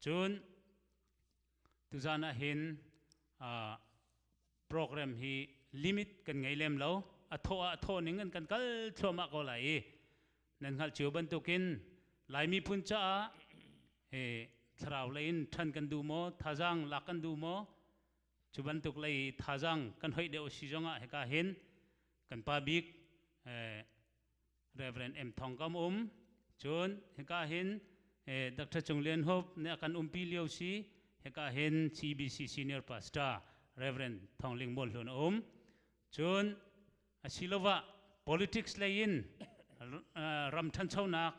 Cun tuzan ah hin uh, program hi limit kan ngei lem lo a thawh ah a thawh ning in kan kal thluahmah ko lai i nan hngalh cio bantukin lai miphun caah he thlarau lei in ṭhan kan duh maw thazang lak kan duh maw cu bantuk lei thazang kan hoih deuh a si zongah hika hin kan pa bik eh, Reverend M Thong kam um cun hika hin eh, Dr. Chung Lian Hope ne kan umpi lio si hika hin CBC senior pastor Reverend Thong Ling Mol hlun um cun asilova politics lei in uh, ram ṭhanchonak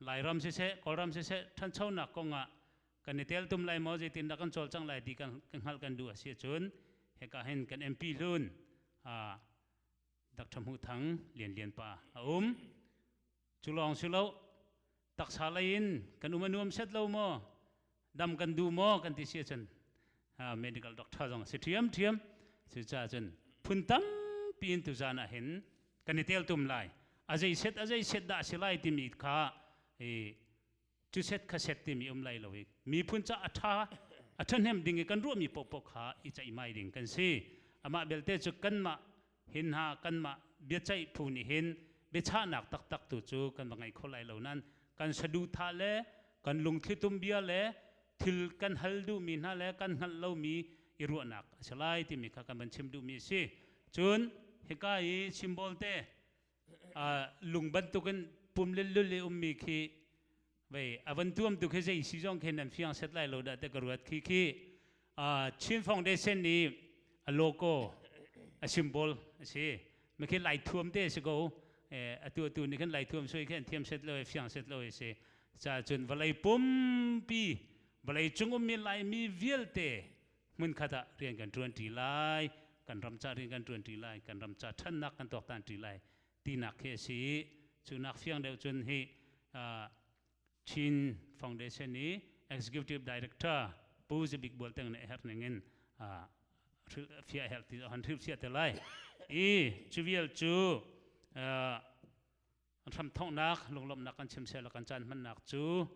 lairam se se kawlram se se ṭhanchonak kongah kan i tel tum lai mo zeitin da kan chol chang lai ti kan kan hngal kan du a si cun heka hin kan MP hlun a Dr. Hmu Thang Lian Lian pa a um. Cu lawng si lo taksa lei in kan um a nuam set lo maw dam kan du maw kan ti si cun medical doctor zong si thiam thiam si ca cun phun tampi in tu zan ah hin kan i tel tum lai a zei set a zei set dah si lai timi kha cuset khaset timi um lai lo i miphun ca a ṭha a ṭhahnem ding i kan ruahmi paohpaoh kha i ceihmai ding kan si amah belte cu kanmah hin ha kanmah biaceih phu nih hin biachahnak taktak tu cu kan va ngei kho lai lo nain kan saduhthah le kan lungthlitum bia le thil kan hal duhmi hna le kan hngalh lomi i ruahnak a si lai timi kha kan van chim duhmi a si cun hika i simbol te lung bantukin pum lillul i ummi khi vei avan tuam tu khi zei si zong khin nan fiang set lai lo da te ka ruat khi khi Chin Foundation ni a logo a symbol a si ma khi lai thuam te si ko atu atu ni kan lai thuam soi khin thiam set lo fiang set lo si cha chun valei pumpi vawlei cung um mi lai mi vialte hmunkhat ah rian kan ṭuanṭi lai kan ram ca rian kan ṭuanṭi lai kan ram ca ṭhannak kan tuaktanṭi lai tinak khi a si i cu nak fiang deuh cun hi Chin Foundation i Executive Director Pu Zabik Bual Teng nih a herh ning in fia a herh ti han hriu fia te lai i cu vial cu hramthawknak lunglawmhnak kan chim seh kan caan hmannak cu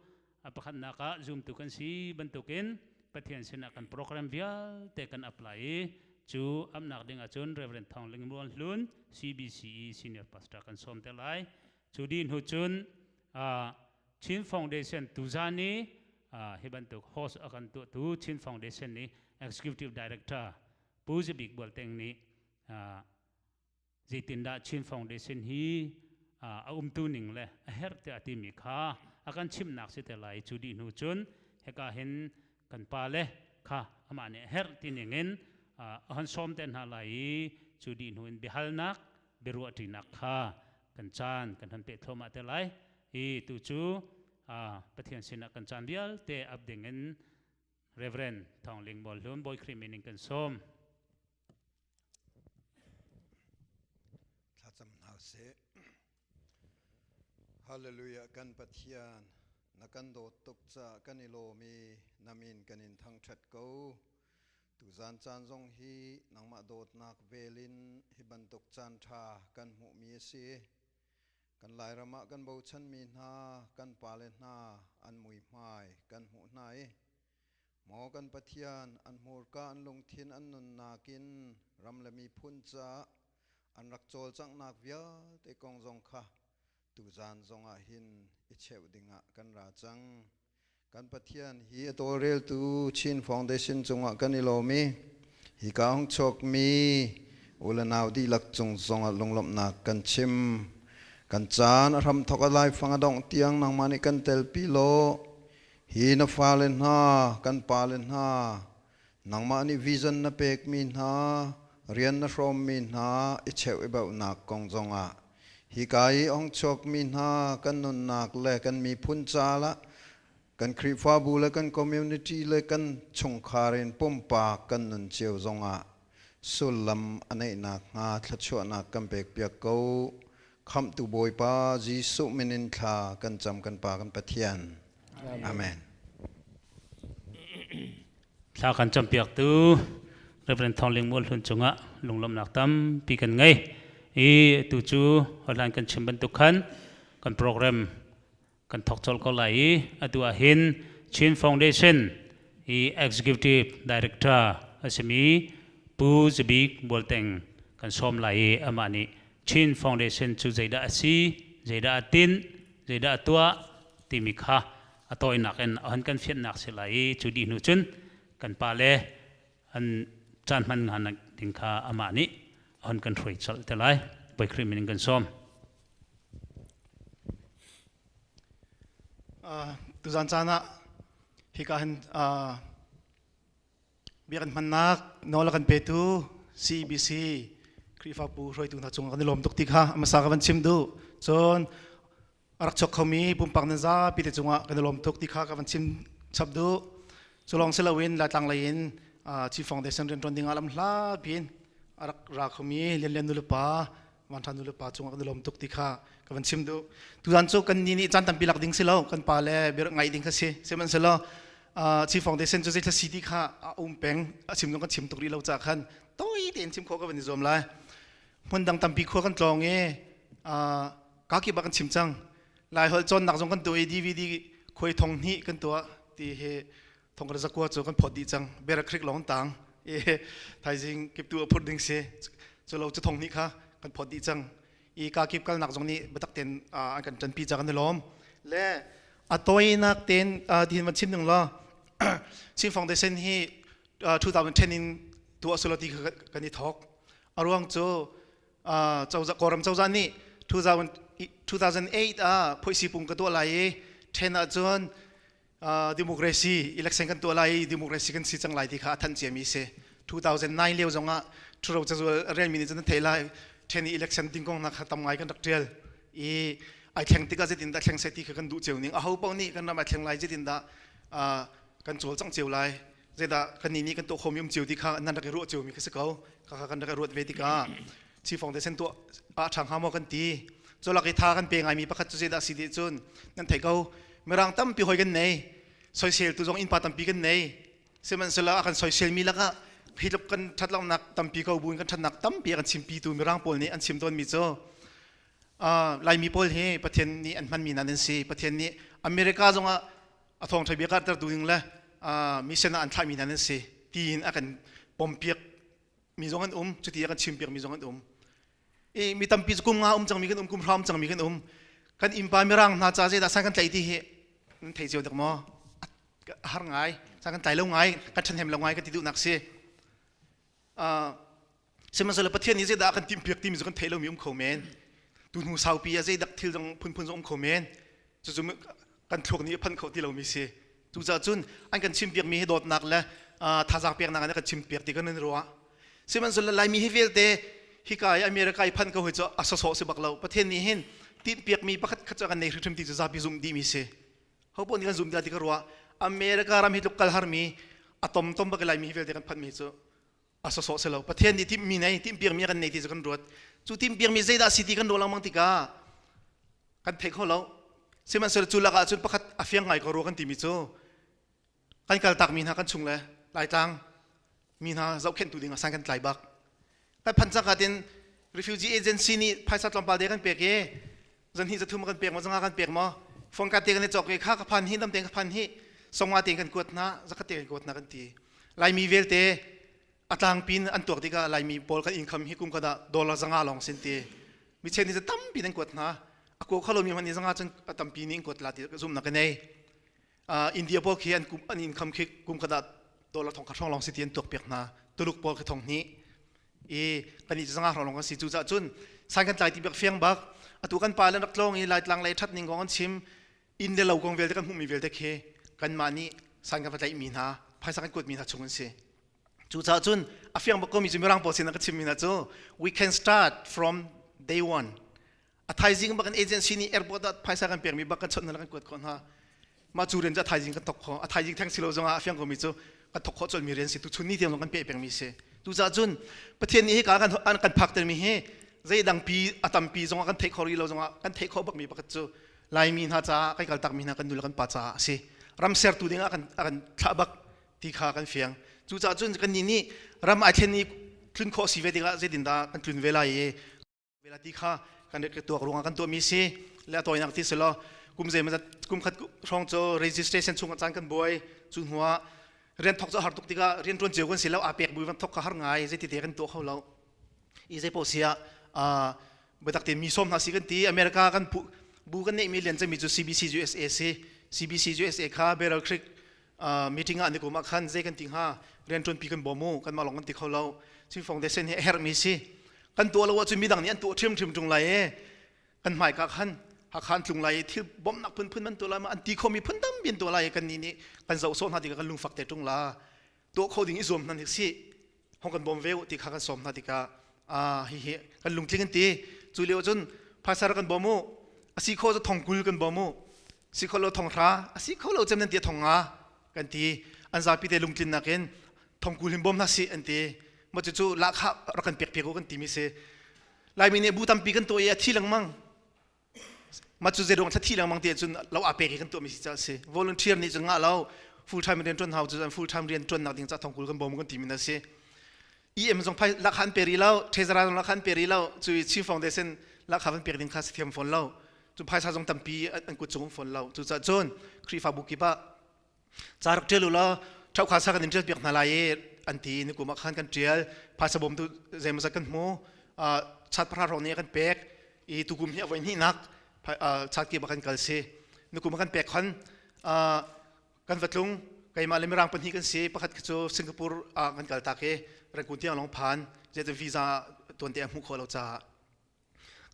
a pakhatnak ah zumtu kan si bantukin Pathian sinah kan program vialte kan apply i cu amnak ding ahcun Reverend Thawng Ling Muan Hlun CBCE Senior Pastor kan sawm te lai cu din hu cun Chin Foundation tuzan i hi bantuk host akan tu tu Chin Foundation nih Executive Director Pu Zabik Bualteng nih zeitindah Chin Foundation hi a umtu ning le a herh tiah a timi kha a kan chimnak si te lai cu dih hnu cun heka hin kan pa le kha amah nih a herh ti ning in a han sawm te hna lai i cu dih hnu in biahalnak biaruahṭinak kha kan caan kan han peh thluahmah te lai i tu cu Pathian sinah kan caan vialte ap ding in Reverend Thawng Ling Bawl Hlun Bawi Khrih min in kan sawm. Thlacam hna seh. Hallelujah kan Pathian na kan dawt tuk ca kan i lawm i namin kan in thangṭhat ko. Tu zan caan zong hi nangmah dawtnak velin hi bantuk caan ṭha kan hmuhmi a si. Kan lairam ah kan bochanmi hna, kan pale hna an mui hmai kan hmuh hna i Maw kan Pathian, an hmurka an lungthin an nunnak in ram le miphun caah an rak cawlcanghnak vialte kong zong kha tuzaan zongah hin i cheuh dingah kan ra cang. Kan Pathian hi a tawlreltu Chin Foundation cungah kan i lawm i hika hong chawkmi ulenau dihlak cung zongah lunglawmhnak kan chim. Kan caan a hram thawk a laifang a dongh tiang nangmah nih kan telpi law Hi na fale hna, kan pale hna, nangmah nih vision na pekmi hna, rian na hrawmmi hna i cheuh i bauhnak kong zongah hika i ongchuakmi hna kan nunnak le kan miphun caah kan Khrihfabu le kan community le kan chungkhar in pumpak kan nun cio zongah sullam a neih nakhnga thluachuahnak kan pekpiak ko. Khamhtu Bawipa Jesuh min in thla kan cam kan Pa kan Pathian. Amen. Thla kan campiaktu Reverend Thong Ling Mual Hlun cungah lunglawmhnak tampi kan ngei. I tu cu hlan kan chim bantuk khan kan program kan thok col ko lai i atu ah hin Chin Foundation i executive director a simi Pu Zabik Bualteng kan sawm lai i amah nih Chin Foundation cu zeidah a si zeidah a tinh zeidah a tuah timi kha a tawinak in a hun kan fianhnak si lai i cu dih hnu cun kan pa le an caan hman hna ding kha amah nih a hun kan hruai chalh te lai poi khrih min in kan sawm tuzan caan ah hika hin biak an hmannak nawl a kan petu CBC Khrihfabu hruaitu hna cung kan i lawm tuk ti kha amasa ka van chim duh cun a rak chok khomi pumpak nan zapi te cungah kan i lawm tuk ti kha ka van chim chap duh cu lawng si loin laitlang lei in chief foundation rianṭuan dingah lam hla piin a rak ra khomi lianlian nulepa vanṭha nulepa cungah kan i lawm tuk ti kha ka van chim duh tutan cu kan ni nih caan tampi lak ding si lo kan pa le bia ngaih ding kha si sihmanhsehlaw chief foundation cu zeitlai si ti kha a um peng a chim dong kan chim tuk rih lo ca khan tawi tein chim khawh ka van i zuam lai hmun dang tampi khua kan tlawng i kakip ah kan chim cang laiholh cawnnak zong kan tuah i dvd khuai thong hni kan tuah ti he thongkar zakua cu kan phawt dih cang berak krik lawng tang i thaizing kiptu a phur ding se cu lo cu thong hni kha kan phawt dih cang i kakip kalnak zong nih batak ten an kan tanpi cang an lawm le a toinak ten tin van chim ning law Chin Foundation hi 2010 in tuah sulati kan i thok a ruang cu cozah kawlram cozah nih 2008 ah phoisipung ka tuah lai i ṭhen ahcun democracy election kan tuah lai i democracy kan si cang lai ti kha a thanh ciami si 2009 lio zong ah ṭhuro cazual rianmi nih cun an thei lai ṭhen i election ding kong hna kha tam ngai kan rak ṭial i ai thleng tik ah zeitindah thleng sai ti kha kan duh cio ning aho paoh nih kan ram ai thleng lai zeitindah kan cawl cang cio lai Zeidah kannih nih kan tuah khomi um cio ti kha nan rak i ruah ciomi kha si ko. Kha kan rak i ruat ve tikah Chi Foundation tuah ah ṭhang hnga maw kan ti. Colak i tha kan pe ngaimi pakhat cu zeidah si dih cun nan theih ko. Mirang tampi hoi kan nei. Soisel tu zong innpa tampi kan nei. Sihmanhsehlaw a kan soiselmi lakah hi tluk kan ṭhatlonak tampi ko buin kan ṭhatnak tampi a kan chimpitu Mirang pawl nih an chim tawnmi cu uh, Laimi pawl hi Pathian nih an hmanmi nan an si. Pathian nih America zongah a thawngṭha bia karhtertu ding le mission ah an thlahmi hna nan si tiin a kan pompiak mi zong an um cuti a kan chimpiak mi zong an um i mi tampi cu kum nga um cangmi kan um kum hram cangmi kan um kan innpa mirang hna ca zeidah san kan tlaih ti hi thei cio dek maw har ngai san kan tlai lo ngai kan ṭhen hem lo ngai ka ti duhnak si Sihmanhsehlaw Pathian nih zeidah a kan timpiak timi cu kan theih lomi um kho men. Tu hnu saupi ah zeidak thil zong phunphun zong um kho men. Cucu kan thluak nih a phanh kho ti lomi si. Cucaah cun an kan chimpiakmi hi dawtnak le thazaang peknak in a kan chimpiak ti kan in ruah. Sihmanhsehlaw Laimi hi vialte hika i America i phanh ko hi cu a sosawh si bak lo. Pathian nih hin tinpiakmi pakhat khat cu a kan nei hrimhrim ti cu zapi zumh dihmi si. Hopoh nih kan zumh dih ti ka ruah. America ram hi tluk kal harmi a tom tom bak i Laimi hi vialte kan phanh mi cu a sawsawh selo pathian nih timhmi nei timhpiakmi a kan nei ti cu kan ruat cu timhpiakmi zeidah si ti kan ruah lengmang tikah kan thei kho lo sihmanhsehlaw cu lakah cun pakhat a fiang ngai ko rua kan timi cu kan kaltakmi hna kan chung le laitlang mi hna zohkhenhtu ding ah san kan tlai bak kan phan cangkat in refugee agency nih phaisa tlawmpal de kan pek i zanhnih zathum a kan pek maw zanga kan pek maw phone card te kan i cawk ve kha ka phan hi namte ka phan hi songwa te kan kuat hna zakat te kan kuat hna kan ti laimi velte a tlang pin an tuak tikah laimi pawl kan income hi kum kada dollar zanga long sin ti mi chen ni tam pin an kuat hna a ko khalo mi man ni zanga cun a tampi ni in kuat la ti zumna ka nei India pawl khi an kum an income khi kum khat ah dollar thong kha hrong long si ti an tuak piak hna Tuluk pawl khi thong hni i kan i zanga hrong long kan si cu cah cun san kan tlai ti bak fiang bak atu kan pa lan rak tlong i laitlang lei that ning gong an chim inn le lo gong vialte kan hmuhmi vialte khi kan mah nih san kan va tlaih mi hna phaisa kan kuat mi hna chung an si Cucaah cun a fiang bak komi cu Mirang pawl sin ka chimmi hna cu we can start from day one. A thaizing bak an agency nih airport ah phaisa kan pekmi bak kan chawnh hna kan kuat khawh hna. Mah cu rian cu a thaizing kan thok khawh. A thaizing theng si lo zongah a fiang komi cu kan thok khawh colmi rian si. Tuchun ni tiang zong kan peh pengmi si. Cucaah cun Pathian nih hika kan kan phaktermi hi zeidangpi a tampi zongah kan theih khawh rih lo zongah kan theih khawh bakmi pakhat cu Laimi hna caah kan kaltakmi hna kan nu le kan pa caah a si. Ram sertu dingah a kan thlah bak ti kha kan fiang cucaah cun kannih nih ram ai thlen i tlun khawh si ve tikah zeitindah kan tlun ve lai i vela ti kha kan ka tuak ruangah kan tuahmi si le a tawinak ti si lo kum zeimazat kum khat hrawng cu registration chung caan kan buai cu hnuah rian thok cu har tuk tikah rian tuan cio kan si lo aa pek bui van thok kha har ngai zeiti te kan tuah kho lo i zei poh sia biatak te mi som hna si kan ti america kan bu kan neihmi lian cangmi cu cbc usa si cbc usa kha barrel creek meeting ah nikum ah khan zei kan ti hnga riantuan pi kan bawm u kanmah lawng kan ti kho lo Chinfong desen hi a herh mi si kan tuah lo ahcun midang nih an tuah ṭhiam ṭhiam ṭung lai i kan hmai ka khan hakhan tlung lai i thil bawmhnak phunphun man tuah lai ma an ti khomi phun tam bin tuah lai kan nih nih kan zoh sawh hna tikah kan lungfak te ṭung la tuah kho ding i zuam hnan hi si hong kan bawm ve uh ti kha kan sawm hna tikah ah hihi kan lungtling an ti cu lio cun phaisa rak kan bawm u asi kho cu thong kul kan bawm u si kho lo thong hra asi kho lo cem nan ti thong nga kan ti an zapi te lungtlin nakin thong kul hin bawm hna si an ti ma cu cu la kha rak kan pek pek u kan ti mi si laimi nih bu tampi kan to i a thi lengmang mah cu zeidang thlathi lengmang te cun lo a pek hi kan tuahmi si ca si volunteer nih cun ngah lo full time rian tuan hau cun full time rian tuan nak ding ca thong kul kan bawm kan ti min a si EM zong phai lak han pe ri lo treasurer zong lak han pe ri lo cui chief foundation lak kha van pek ding kha si thiam phone lo cu phaisa zong tampi an kut cung phone lo cu ca cun khrifa bu kip ah ca rak ṭial ulaw ṭhaukha sa kan in ṭial piak hna lai i an ti nikum ah khan kan ṭial phaisa bawm tu zeimawzat kan hmu chat pahra hrawng ni kan pek i tukum hi a voi hnihnak chat kip ah kan kal si nikum ah kan pek khon kan vatlung keimah le mirang pahnih kan si pakhat cu singapore ah kan kal tak i rangkun tiang long phan zetan visa tuan te a hmu kho lo caah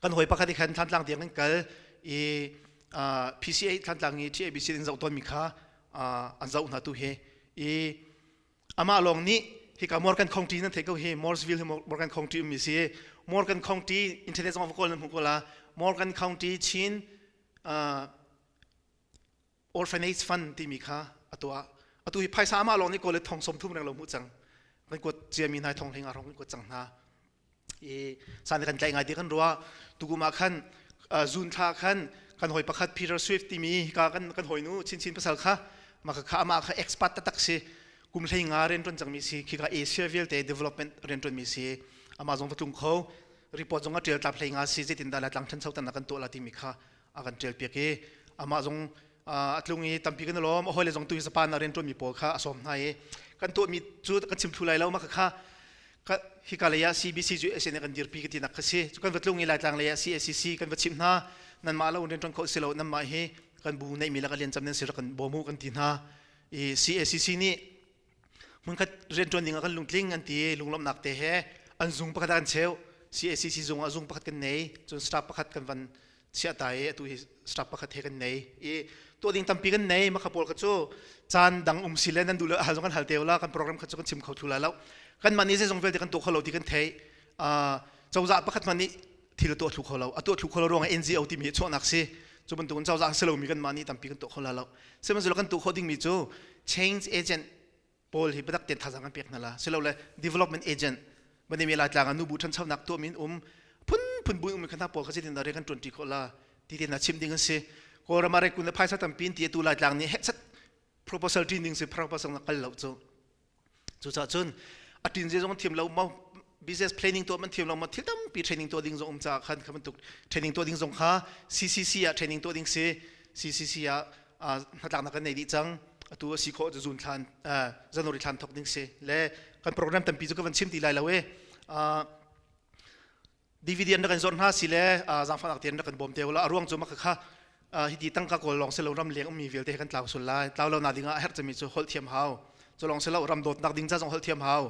kan hawi pakhat i khan thlantlang tiang kan kal i uh, PCA thlantlang i TABC in zoh tawnmi kha uh, an zoh hna tu he i amah lawng nih hika Morgan County nan thei ko hi Morsville hi Morgan County ummi si Morgan County internet zong kawl nan hmu ko la Morgan County Chin uh, orphanage fund timi kha a tuah atu hi phaisa amah lawng nih kawl le thong som thum reng lo hmuh cang kan kuat ciami nai thong hling arong kan kuat cang hna i san kan tlai ngai ti kan rua tukum ah khan zun thla khan kan hoi pakhat Peter Swift timi ka kan kan hoi nu chinchin pasal kha maka kha ama kha expat tatak si kum hlei nga ren ton chang mi si khi ka Asia vialte development ren ton mi si ama zong va tlung kho report zong a tial tap hlei nga si zetin da la tlang than sau tan kan to la ti mi kha a kan ṭialpiak i amah zong a tlung i tampi kan i lawm a hawile zong tu sapan a rianṭuanmi pawl kha a sawm hna i kan tuahmi cu kan chim thlu lai lo mah kha hika lei ah CBC cu SN kan dirpi ka tinak kha si cu kan va tlung i laitlang lei ah CSCC kan va chimh hna nanmah lo rianṭuan kho si lo nanmah hi kan bu neihmi lakah lian cam nan si kan bawm u kan ti hna i CSCC nih hmunkhat rianṭuan ding ah kan lungtling an ti lunglawmhnak te he an zung pakhat ah kan cheu CACC zung ah zung pakhat kan nei cun staff pakhat kan van chiah ta i atu hi staff pakhat he kan nei i tuah ding tampi kan nei makha pawl kha cu caan dang um si le nan duh le hal zong kan hal te la kan program kha cu kan chim kho thula lo kan man ni zeizong vialte kan tuah kho lo ti kan thei uh, cozah pakhat man nih thil tuah thlu kho lo a tuah thlu kho lo ruang ah NGO timi hi chuahnak si cu bantukin cozah si lomi kan mah nih tampi kan tuah kho la lo sihmanhsehlaw kan tuah khawh dingmi cu change agent pawl hi biatak tein thazaang an pek hna la si lo le development agent manemi laitlang ah nubu ṭhanchonak tuahmi in um phunphun buin ummi khan pawl kha zeitin dah rian kan ṭuanṭi khawh la ti te hna chim ding an si kawlram ah rekun le phaisa tampi in tiatu laitlang nih heksat proposal ṭin ding si proposal na kal lo cu cucah cun a tin zezong thiam lo ma business planning tuah man thiam lo ma thil tampi training tuah ding zong um caah khan kha bantuk training tuah ding zong kha CCC ah training tuah ding si CCC ah hnatlaknak kan nei dih cang atu a si khawh zun thlan january thlan thok ding si le kan program tampi cu ka van chim ti lai lo e dividend rak in zor hna si le zaangfahnak tian rak in bawm te ulah a ruang cu maka kha hi ti tangka kawl lawng selo ram leng ummi vialte kan tlau sul lai tlau lo na ding ah a herh cemi cu holh thiam hau cu lawng selo ram dawtnak ding ca zong holh thiam hau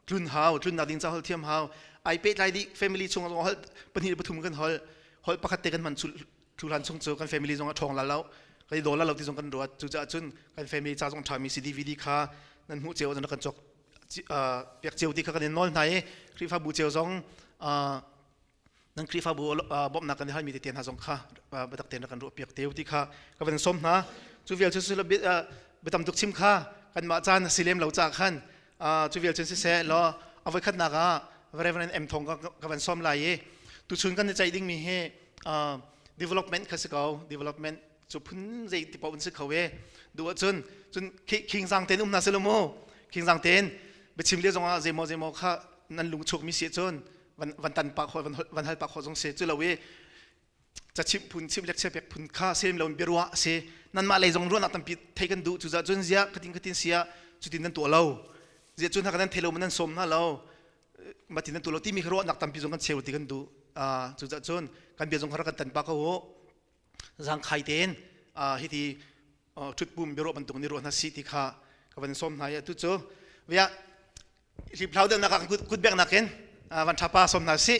tlun hau tlunnak ding ca holh thiam hau ai pe tlai di family chung zong holh pahnih pathum kan holh holh pakhat te kan man thulhan chung cu kan family zong a thong la lo kan i dol la lo ti zong kan ruat cu ca cun kan family ca zong thami si DVD kha nan hmu ceo zong kan chok piakcio ti kha kan in nawl hna i Khrihfabu cio zong nan Khrihfabu bawmhnak kan i halmi tete hna zong kha biatak tein rak kan ruah piak te ti kha ka van sawm hna cu vial cun biatam tuk chim kha kanmah caan a si lem lo ca khan cu vial cun siseh law a voikhatnak ah Reverend M Thong ka van sawm lai i tuchun kan i ceih dingmi hi development kha si ko development cu phun zei ti paoh in si kho ve du ahcun cun khingzang tein um hna si lo mu khingzang tein biachim le zongah zeimaw zeimaw kha nan lung chukmi si cun van tan pak hoi van hal pak hoi zong si cu lo i cachimh phun chim lekchia pek phun kha sem lo in biaruah si nanmah lei zong ruahnak tampi thei kan duh cucah cun ziah katin katin sia cutin nan tuah lo ziah cun haka nan thei lo ma nan sawm hna lo matin nan tuah lo timi ruahnak tampi zong kan cheu ti kan duh cucah cun kan bia zong kha kan tan pa ko zangkhai tein hi ti ṭhutpum biaruah bantuk ni ruah hna si ti kha ka van sawm hna i atu cu via hliphlau delnak ah kutbek nakin van ṭha pa sawm hna sih